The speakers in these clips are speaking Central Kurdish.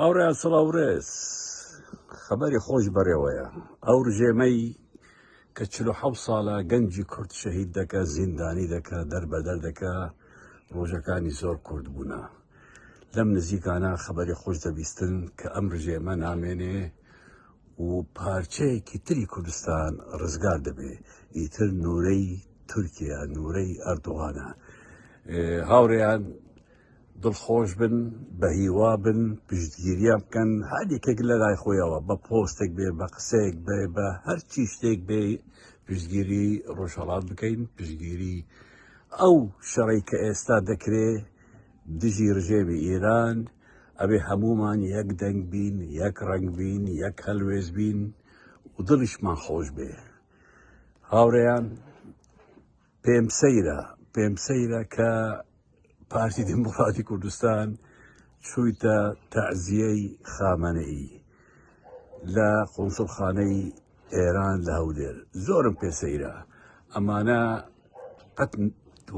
ئەوڕێ سڵاوڕێز خەبەری خۆش بەڕێوەیە ئەو ڕژێمەی کە چ حەو ساڵە گەنجی کورد شەهید دەکە زیندانی دەکە دەربەدەر دەکە ڕۆژەکانی زۆر کورد بوونە لەم نزیکانە خەبەری خۆش دەبیستن کە ئەم ڕژێمە نامێنێ و پارچەیەکی تری کوردستان ڕزگار دەبێ ئیتر نورەی تورکیا نورەی ئەردوغانە هاوڕێیان دڵخۆشبن بەهیوابن پشتگیریان بکەن هەر یەکێک لە لای خۆیەوە بە پۆستێک بێ بە قسەیەک بێ بە هەرچی شتێک بێ پشتگیری ڕۆژهەڵات بکەین پشتگیری ئەو شەڕی کە ئێستا دەکرێ دژی ڕژێمی ئێران ئەبێ هەمومان یەک دەنگ بین یەک ڕنگ بین یەک هەلوێز بین و دڵیشمان خۆش بێ هاوڕێیان پێم سەیرە پێم سەیرە کە پارتی دیموکراتی کوردستان چوویتە تەعزیەی خامەنەئی لە قونسڵخانەی ئێران لە هەولێر زۆرم پێ سەیرە ئەمانە قەت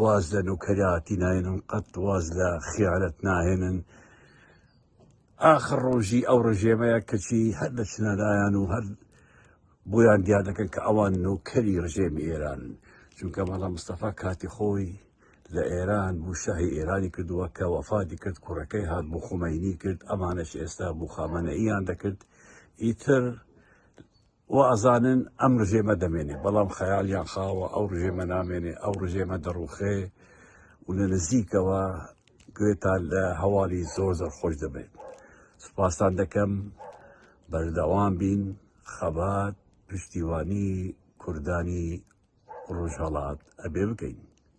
واز لە نوکەراتی ناێنن قەت واز لە خیانەت ناهێنن ئاخر ڕۆژی ئەو ڕژێمەیە کەچی هەر لە چنەلایەن و هەر بۆیان دیار دەکەن کە ئەوان نۆکەری ڕژێمی ئێرانن چونکە مەڵام مستەفا کاتی خۆی لە ئێران بوو شاهی ئێرانی کردووە کە وەفادی کرد کوڕەکەی هات بۆ خۆمەینی کرد ئەمانەش ئێستا بۆ خامەنە ئیان دەکرد ئیتر و ئەزانن ئەم ڕژێمە دەمێنێ بەڵام خەیالیان خاوە ئەو ڕژێمە نامێنێ ئەو ڕژێمە دەڕوخێ و لە نزیکەوە گوێتان لە هەواڵی زۆر زۆر خۆش دەبێت سوپاستان دەکەم بەردەوام بین خەبات پشتیوانی کوردانی ڕۆژهەڵات ئەبێ بکەین.